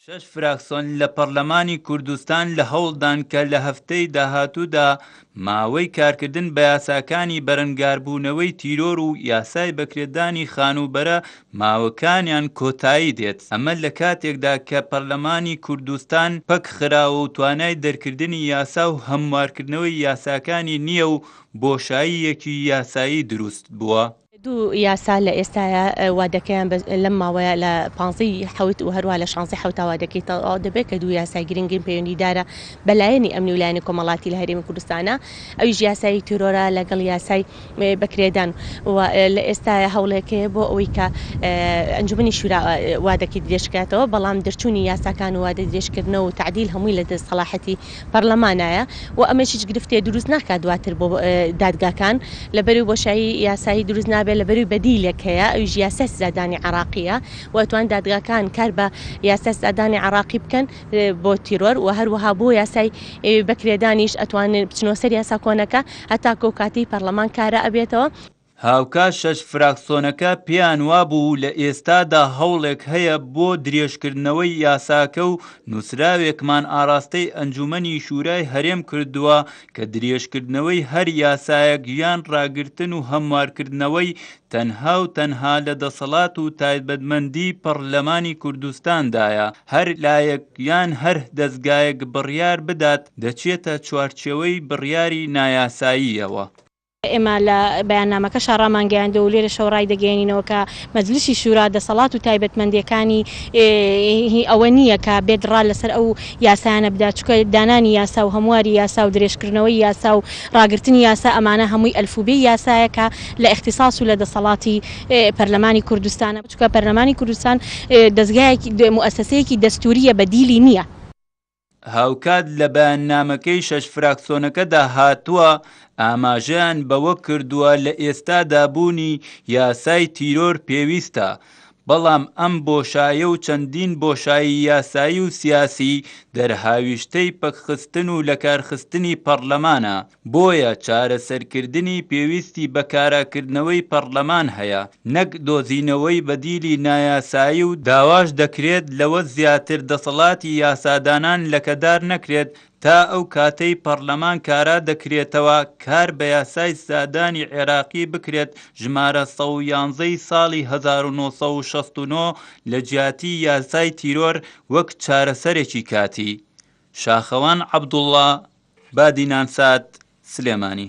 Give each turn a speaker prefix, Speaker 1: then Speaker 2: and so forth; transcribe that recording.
Speaker 1: شەش فراکسۆن لە پەڕلەمانی کوردستان لە هەوڵدان کە لە هەفتەی داهاتوودا ماوەی کارکردن بە یاساکانی بەرەنگاربوونەوەی تیرۆر و یاسای بەکرێدانی خانووبەرە ماوەکانیان کۆتایی دێت ئەمە لە کاتێکدا کە پەرلەمانی کوردستان پەک خراوە و توانای دەرکردنی یاسا و هەموارکردنەوەی یاساکانی نییە و بۆشاییەکی یاسایی دروست بووە. دوو یاسا
Speaker 2: لە ئێستایا وادەکەیان بە لەم ماوەیە لە پانزەی حەوت و هەروە لە شانزەی حەوتا وادەکەی تەواو دەبێت کە دوو یاسای گرنگین پەیوەندیدارە بە لایەنی ئەمنی و لایەنی کۆمەڵاتی لە هەرێمی کوردستانە ئەویش یاسایی تیرۆرە لەگەڵ یاسای بەکرێدان و لە ئێستایا هەوڵێک هەیە بۆ ئەوەی کە ئەنجومنی شورا وادەکەی درێژکاتەوە بەڵام دەرچوونی یاساکان و وادە درێژکردنەوە و تعدیل هەمووی لە دەست سەڵاحەتی پەڕلەمانایە و ئەمەش هیچ گرفتێ دروست ناکات دواتر بۆ دادگاکان لەبەرئەوەی بۆشایی یاسایی دروست نابێت لەبەرئەوەی بەدیلێک هەیە ئەویش یاسای سزادانی عێڕاقیە و ئەتوان دادگاکان کار بە یاسای سزادانی عێڕاقی بکەن بۆ تیرۆر و هەروەها بۆ یاسای بەکرێدانیش ئەتوانن بچنەوە سەر یاسا کۆنەکە هەتاکو ئەو کاتەی پەڕلەمان کارا ئەبێتەوە. هاوکات
Speaker 1: شەش فراکسۆنەکە پێیان وابوو لە ئێستادا هەوڵێک هەیە بۆ درێژکردنەوەی یاساکە و نووسراوێکمان ئاراستەی ئەنجوومەنی شوورای هەرێم کردووە کە درێژکردنەوەی هەر یاسایەک یان راگرتن و هەموارکردنەوەی تەنها و تەنها لە دەسەڵات و تایبەتمەندی پەڕلەمانی کوردستاندایە هەر لایەک یان هەر دەزگایەک بڕیار بدات دەچێتە چوارچێوەی بڕیاری نایاساییەوە. ئێمە
Speaker 3: لە بەیاننامەکەشا رامانگەیاندووە و لێرەشەوە رایدەگەیەنینەوە کە مەجلیسی شورا دەسەڵات و تایبەتمەندییەکانی هی ئەوە نییە کە بێت را لەسەر ئەو یاسایانە بدات، چونکە دانانی یاسا و هەمواری یاسا و درێژکردنەوەی یاسا و راگرتنی یاسا ئەمانە هەمووی ئەلفوبێی یاسایە کە لە ئیختیساس و لە دەسەڵاتی پەرلەمانی کوردستانە، چونکە پەرلەمانی کوردستان دەزگایەکی موئەسەسەیەکی دەستوورییە بەدیلی نییە. هاوکات
Speaker 1: لە بەیاننامەکەی شەش فراکسۆنەکەدا هاتووە، ئاماژەیان بەوە کردووە لە ئێستادا بوونی یاسای تیرۆر پێویستە، بەڵام ئەم بۆشایە و چەندین بۆشایی یاسایی و سیاسی دەرهاویشتەی پەکخستن و لەکارخستنی پەڕلەمانە. بۆیە چارەسەرکردنی پێویستی بە کاراکردنەوەی پەڕلەمان هەیە نەک دۆزینەوەی بەدیلی نایاسایی و داواش دەکرێت لەوە زیاتر دەسەڵاتی یاسادانان لەکەدار نەکرێت تا ئەو کاتەی پەڕلەمان کارا دەکرێتەوە کار بە یاسای سزادانی عێراقی بکرێت ژمارە سەد و یانزە ی ساڵی هەزار و نۆ سەد و شەست و نۆ لەجیاتی یاسای تیرۆر وەک چارەسەرێکی کاتی شاخەوان عەبدوڵڵا، بادینانسات، سلێمانی.